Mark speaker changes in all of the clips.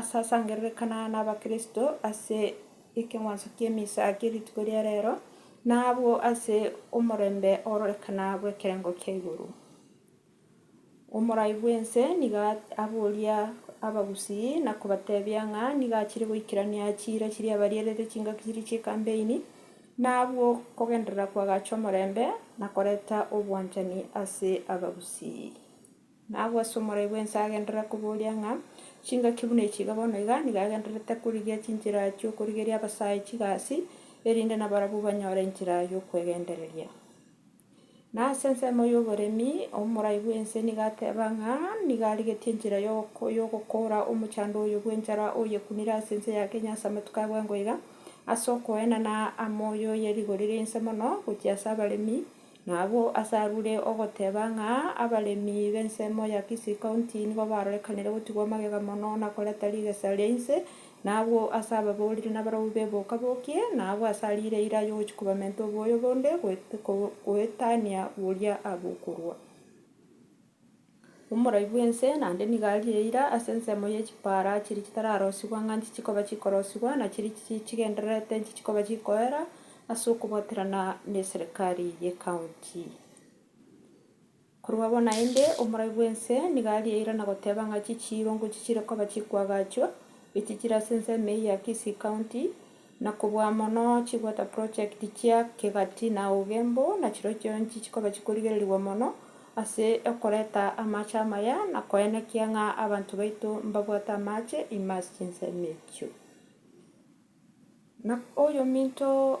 Speaker 1: Asasangererekana nabakristo ase ekeng'wanso ki'emisa kie rituko ria reero, na abwo ase omorembe ororekana bw'ekerengo kia igoro. Omorai bw'ense nigo aboria abagusii na kobatebia ng'a nigo achire goikerania chiira chiria abarierete chingaki chiria chi'ekampeini, na abwo kogenderera koagacha omorembe na koreta obwanchani ase abagusii. Na agwo ase omoraibwa ense agenderera koboria ng'a, Chingaki buna echi iga bono iga nigo agendererete korigia chinchera chi'okorigeria abasae chigasi, erinde nabarabwo banyore enchera y'okwegendereria. Na ase ensemo y'oboremi, omoraibwa ense nigo ateba ng'a nigo arigetie enchera y'ogoko- y'ogokoora omochando oyo bw'enchara oyekunire ase ense ya Kenya ase amatuko a bwengo iga, ase okoenana amo y'oyerigorire inse mono gochia ase abaremi, Na abwo as'arure ogoteba ng'a abaremi b'ensemo ya Kisii County nigo barorekanire gotigwa magega mono na koreta rigesa ria inse, na abwo as'ababoriri na abaraubi b'eboka bokie, na abwo as'ariire eira y'ogochia kobamenta oboyo bonde goetania boria abokorwa. Omorai bw'ense naende nigo arie eira ase ensemo ye chipaara chiria chitararosigwa ng'a inchi chikoba chikorosigwa, na chiria chigendererete inchi chikoba chikoera ase okobaterana neserikari y'ecounty. Korwa bono naende, omorai bw'ense nigo arie eira na goteba ng'a chichiiro ngochia chire koba chikoagachwa, echi chire ase ensemo eye ya Kisii County. na kobua mono chigweta project chia kegati na auge mbo nachiro chionsi chikoba chikorigererigwa mono ase okoreta amache amaya na koenekia ng'a abanto baito mbabwate amache ime ase chinsemo echio. Na oyominto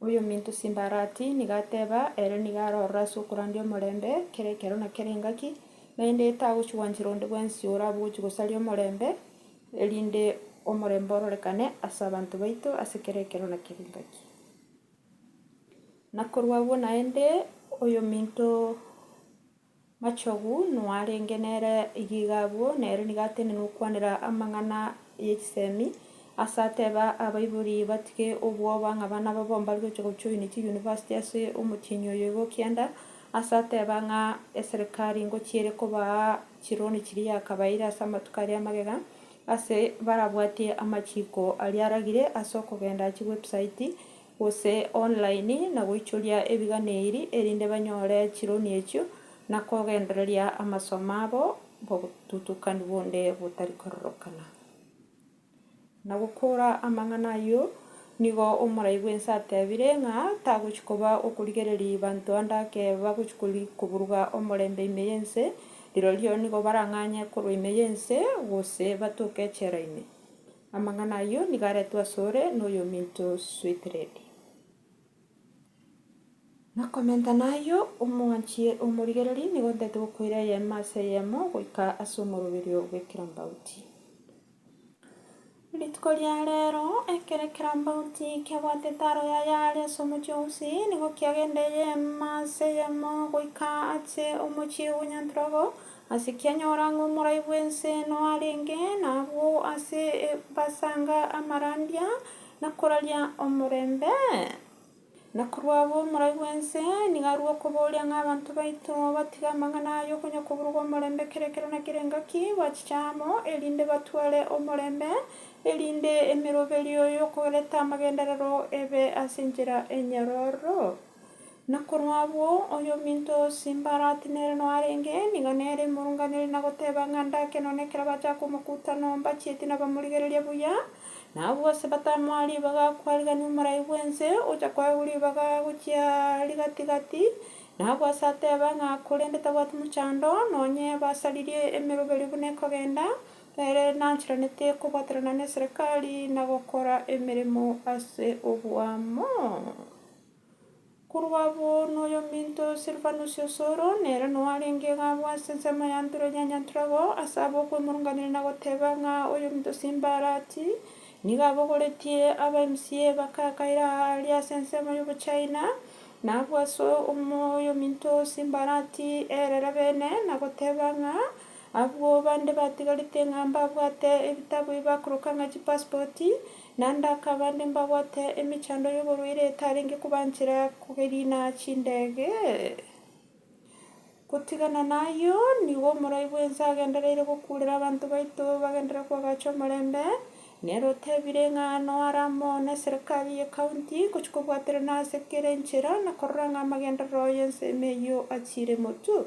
Speaker 1: Oyominto Simbarati nigo ateba, Ere nigo arorora ase okorandia omorembe kera ekero na kera engaki, naende tagochigwanchera onde bwensi orabe ogochia gosaria omorembe, erinde omorembe ororekane ase abanto baito ase kera ekero na kera engaki. Na korwa abwo naende, oyominto Machogu noarenge nere iga abwo, na ere nigo atenena okwanera amang'ana ye chisemi, ase ateba abaibori batige obwoba ng'a abana babo mbare gocha gojoina chiyunivasiti ase omotienyi oyo igo okianda, ase ateba ng'a eserekari ngochiere kobaa chironi chiria yakabaeire ase amatuko aria amagega, ase barabwatie amachiko aria aragire ase okogenda achie website. gose online, na goichoria ebiganeiri erinde banyore chironi echio na kogendereria amasomo abo bobotutukani bonde botari kororokana. Na gokora amang'ana ayio, nigo omorai bw'ense atebire ng'a tagochi koba okorigereria banto ande ake bagochi koburuga omorembe ime y'ense, rirorio nigo barang'anye korwa ime y'ense gose batoke echela ime. Amang'ana ayio nigo aretwe asore noyominto Swithredi. Na komentana ayio omwanchie omorigereri nigo ontaete gokoira eyemo ase eyemo goika ase omoroberio bw'ekerambauti. Rituko ria reero, ekero ekerambauti kiabwate taro yaye aria ase omochie o Usi, nigo kiagenda eyemo ase eyemo goika ache omochie o Nyantrogo, Ase kianyora ng'a omorai bw'ense noarenge nabwo ase ebasanga amarandia, na koraria omorembe, na korwa abwo omorai bw'ense nigo arue okoboria ng'a abanto baito batige amang'ana aya okonya koburugwa omorembe kera ekero na kera engaki gwachicha amo, erinde batware omorembe, erinde emeroberio y'okoreta amagenderero ebe ase enchera enyororo. Na korwa abwo, oyominto o Simbarati nere noarenge, nigo nere imorunganire na goteba ng'a ndake nonya ekero bacha komokuta nombachieti nabamorigereria buya, na abwo ase batamoa ribaga akwarigania omorai bw'ense, ocha koegwa ribaga gochia rigati‐gati, na abwo ase ateba ng'a korende tabwati mochando, nonya ebasaririe emeroberio buna ekogenda, ere nanchiraneti kobwaterana neserekari na gokora emeremo ase oboamo. Korwa abwo noyominto Silvanus o Soro, nere noarenge iga abwo ase ensemo ya Antureria onye Anturago, ase abwo okwemurunganera na goteba ng'a oyominto Simbarati nigo abogoretie aba MCA bakakaire aa aria ase ensemo y'Obochina, na abwo ase oyominto Simbarati erere bene na goteba ng'a abwo bande batigarete ng'a mbabwate ebitabu ebi bakoroka ng'a chipasipoti, Na ndakaba nde mbabwate emechando y'oborwaire etarenge kobanchera kogeriina chindege. Gotigana nayio, nigo omorai bw'ense agendereire gokuurera abanto baito bagenderere koagacha omorembe, nere otebire ng'a noare amo n'eserikari y'ekaunti ngochia kobwaterana ase kera enchera na korora ng'a amagenderero y'ensemo eyio achiire motu.